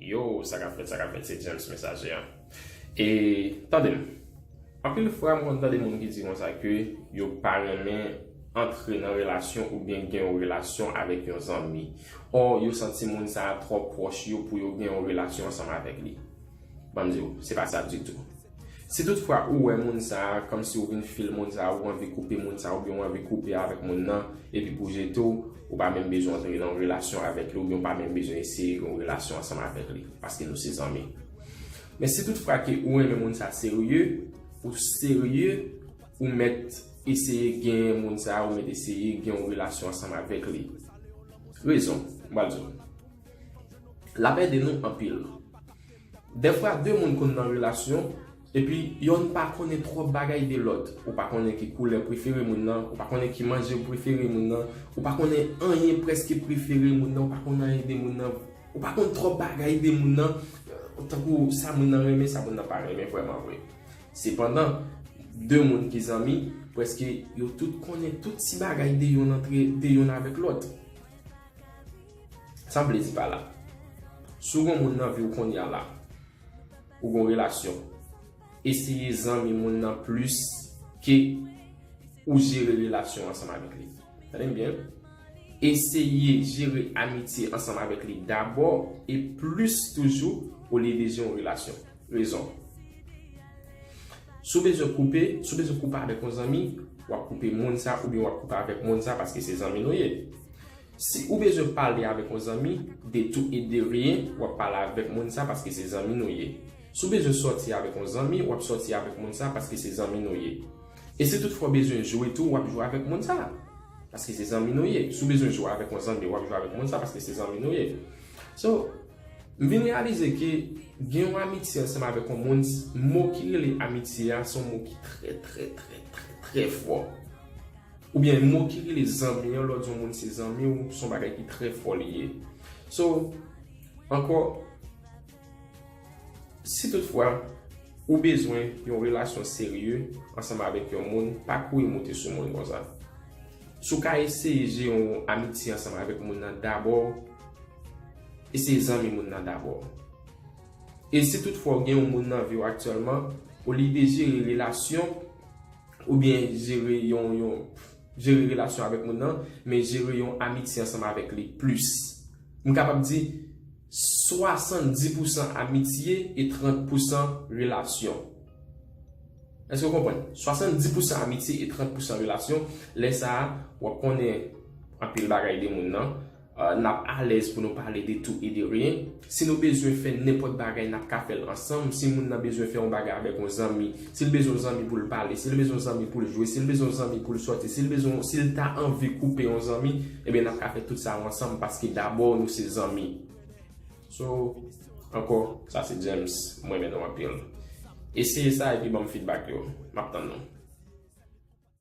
Yo, sa kap fèt, sa kap fèt, se James Messager an. E, tande m. Anpil fwa m konn tande moun ki di konsa ke yo pa renmen antre nan relasyon oubyen gen yon relasyon avèk yon zanmi. Or, yo santi moun sa a twò pwòch yo pou yo gen yon relasyon ansanm avèk li. Ban m di w, se pa sa ditou. Si tout fwa ou wè moun sa kòmsi ou vin fil moun sa ou anvi koupe moun sa oubyen ou anvi koupe avèk moun nan epi pou jete w ou pa menm bezwen antre nan yon relasyon avèk li oubyen ou pa menm bezwen eseye yon relasyon ansanm avèk li paske nou se zanmi men si tout fwa ke ou renmen moun sa serye ou serye ou mèt eseye genyen moun sa ou mèt eseye gen yon relasyon ansanm avèk li rezon m pral di w l ap ede nou anpil. Dèfwa 2 moun konn nan relasyon, epi yonn pa konnen twòp bagay de lòt. Ou pa konnen ki koulè prefere moun nan, ou pa konnen ki manje prefere moun nan, ou pa konnen anyen prèske prefere moun nan, ou pa konn anyen de moun nan, ou pa konn twòp bagay de moun nan, tankou sa moun nan renmen, sa moun nan pa renmen vrèman vre. Sepandan, 2 moun ki zanmi, prèske yo tout konnen tout ti bagay de yonn antre, de yonn avèk lòt. San plezi pa la. Si w gen yon moun nan vi w konnya la, ou gen yon relasyon, eseye zanmi moun nan plis ke ou jere relasyon ansanm avèk li. Tande m byen. Eseye jere amitye ansanm avèk li dabò e plis toujou olye de jere yon relasyon. Rezon. Si w bezwen koupe, si w bezwen koupe avèk yon zanmi, w ap koupe moun sa oubyen w ap koupe avèk moun sa paske se zanmi nou ye. Si ou bezwen pale avèk yon zanmi, de tou e de ryen, w ap pale avèk moun sa paske se zanmi nou ye. Si w bezwen sòti avèk yon zanmi, w ap sòti avèk moun sa paske se zanmi nou ye. E si toutfwa w bezwen jwe tou, w ap jwe avèk moun sa paske se zanmi nou ye. Si w bezwen jwe avèk yon zanmi, w ap jwe avèk moun sa paske se zanmi nou ye. So, m vin reyalize ke gen yon amitye ansanm avèk yon moun, mo ki rele amitye a se yon mo ki trè trè trè trè trè fò. Oubyen mo ki rele zanmi yon lòt yon moun se zanmi w son bagay ki trè fò li ye. So, ankò, si tout fwa ou bezwen yon relasyon serye ansanm avèk yon moun, pa kouri moute sou moun konsa. Si w ka eseye jere yon amitye ansanm avèk moun nan dabò, eseye zanmi moun nan dabò. E si tout fwa ou gen yon moun nan vi w aktyèlman, olye de jere relasyon, ou byen jere yon yon jere relasyon avèk moun nan men jere yon amitye ansanm avèk li plis m kapab di 70 pousan amitye e 30 pousan relasyon èske ou konprann 70 pousan amitye e 30 pousan relasyon lè sa a wap konnen anpil bagay de moun nan N ap alèz pou nou pale de tou e de ryen. Si nou bezwen fè nenpòt bagay, n ap ka fè l ansanm. Si moun nan bezwen fè yon bagay avèk yon zanmi, si l bezwen yon zanmi pou l pale, si l bezwen yon zanmi pou l jwe, si l bezwen yon zanmi pou l sòti, si l bezwen yon, si l ta anvi koupe yon zanmi, ebyen n ap ka fè tout sa yo ansanm paske dabò nou se zanmi. So, ankò, sa se James. M renmen nou anpil. Eseye sa epi ban m fidbak yo. M ap tann nou.